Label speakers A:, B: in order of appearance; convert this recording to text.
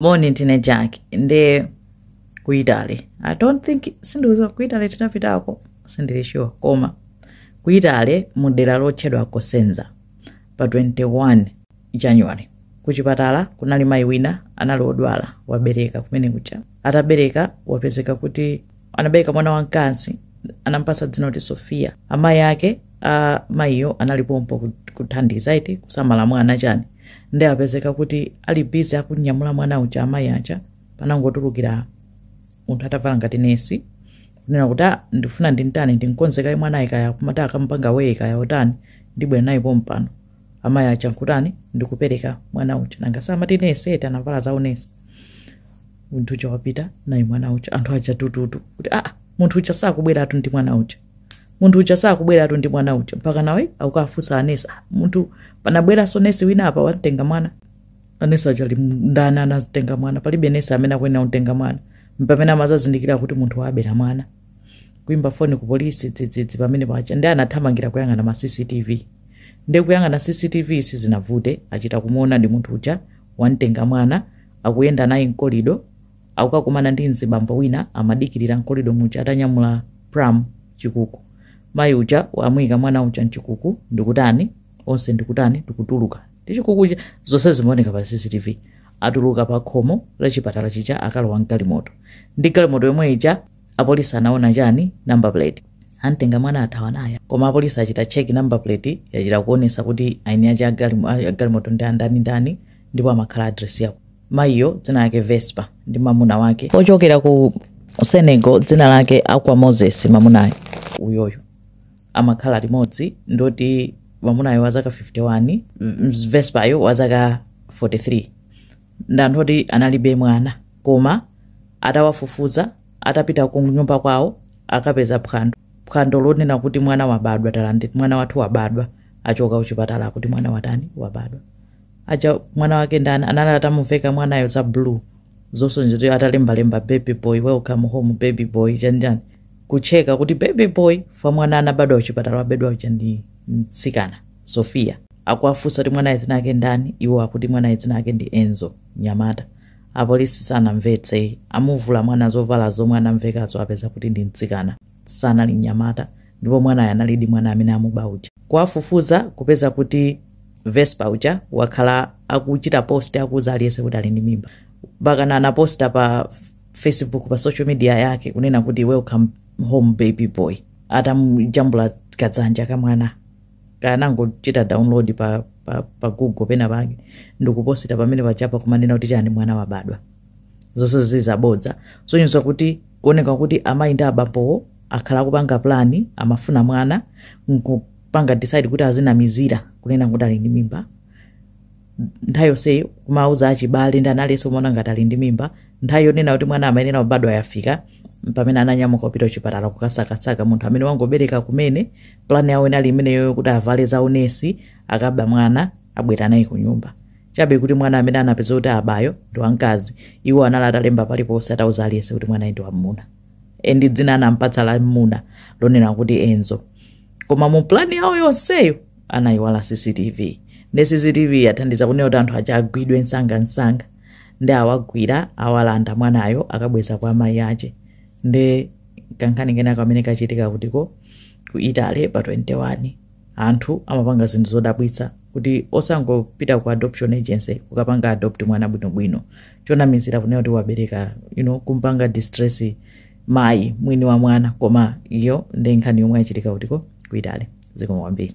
A: moni ndine jack ndi ku italy i don't think sindikuziwa ku italy tinapitako sindili sure koma ku italy mu dera lotchedwa cosenza pa 21 january kuchipatala kunali mayi wina anali odwala wabereka kumene kucha atabereka wapezeka kuti anabereka mwana wamkazi anampasa dzina kuti sofiya amayi ake a mayiyo anali pompo ku- kuthandiza eti kusamala mwana chani nde apezeka kuti ali bizi akunyamula mwana uja amayi aja panangotulukira munthu atavala ngati nesi kunena kuti "Ah, ndifuna ndintani ndinkonzekaye mwana uyu kaya kumati akamupanga weigh kaya kutani ndibwera naye pompano amayi aja nkutani ndikupereka mwana uja nanga samati nesi eti anavala za unesi munthu uja wapita naye mwana uja anthu aja tututu kuti aa munthu uja sakubweratu ndi mwana uja munthu uja sakubweratu ndi mwana uja mpaka nawo akukafunsa anesi "Ah, munthu panabweranso nesi wina apa wamtenga mwana anesi aja ali ndani anatenga mwana palibe nesi amene akuyenera kumtenga mwana mpamene amazazindikira kuti munthu wabera mwana kuimba foni ku polisi dzidzidzi pamenepaja nde anathamangira kuyang'ana ma cctv ndi kuyang'ana cctv sizinavute achita kumuonadi munthu uja wamtenga mwana akuyenda naye mkolido akukakumana ndi mzibambo wina amadikirira mkolido muja atanyamula pram chikuku mayi uja amuyika mwana uja mchikuku ndikutani onse ndikutani ndikutuluka ndi chikuku chija zonse zimaoneka pa cctv atuluka pa khomo la chipatala chija akalowa mgalimoto ndi galimoto yomwe ija apolisi anaona chani number plate antenga mwana athawa naye koma apolisi achita cheki number plate yachita kuonesa kuti aini aja agalimo- a- agalimoto ndi ndani ndani ndipo amakhala adresi yakuti mayiyo dzina lake vespa ndi mamuna wake ochokera ku senegal dzina lake akwa moses mamunayo uyoyo amakhala limodzi ndoti mamunayo wazaka 51 m- vespayo wazaka 43 ndanthu oti analibe mwana koma atawafufuza atapita ku nyumba kwawo akapeza phwando phwando lonena kuti mwana wabadwa talandira mwana wathu wabadwa achoka kuchipatala akuti mwana watani wabadwa paja mwana wake ndani anali atamuveka mwanayo za blue zosonyeza kuti atalembalemba baby boy welcome home baby boy chanjani kucheka kuti baby boy paja mwana anabadwa kuchipatala wabedwa uja ndi mtsikana sofia akuwafunsa kuti mwanaye dzina ake ndani iwo akuti mwanaye dzina ake ndi enzo nyamata apolisi sanamvetse amuvula mwana zovala zomwe anamvekazo apeza kuti ndi mtsikana sanali mnyamata ndipo mwanayo analidi mwana amene amuba uja kwafufuza kupeza kuti vespa uja wakhala akuchita post akuuza aliyense kuti ali ndi mimba mpakana anaposta pa facebook pa social media yake kunena kuti welcome home baby boy atamujambula kadzanja kamwana anangochita download pa, pa, pa google pena pake ndikuposita pamene pachapa kumanena kuti chani mwana wabadwa zonse zili zabodza sonyeza kuti kuoneka kuti amayi ndi abambo akhala akupanga plani amafuna mwana nkupanga decide kuti azinamizira kunena kuti ali ndi mimba nthawi yonse kumauza achibale ndi analenso umaona ngati ali ndi mimba nthawi yonena kuti mwana amayenera kubadwa yafika pamene ananyamuka kupita kuchipatala kukasakasaka munthu amene wangobereka kumene plani yawo inali imeneyo kuti avale za unesi akaba mwana abwera naye kunyumba chabe kuti mwana amene anapeza kuti abayo ndi wamkazi iwo anali atalemba paliponse atauza aliyense kuti mwanayi ndi wamuna e ndi dzina anampatsa la mmuna lonena kuti enzo koma mu plani yawo yonseyo anayiwala cctv ndi cctv yathandiza kunena kuti anthu aja agwidwe msangamsanga ndi awagwira awalanda mwanayo akabweza kwa amayi ache ndi kankhani kena kamene kachitika kutiko ku italy pa 21 anthu amapanga zinthu zodabwitsa kuti osangopita ku adoption agency kukapanga adopt mwana bwinobwino chonamizira kunena kuti wabereka you know, kumpanga distress mayi mwini wa mwana koma iyo ndi nkhani yomwe yachitika kutiko ku italy zikomo kwambiri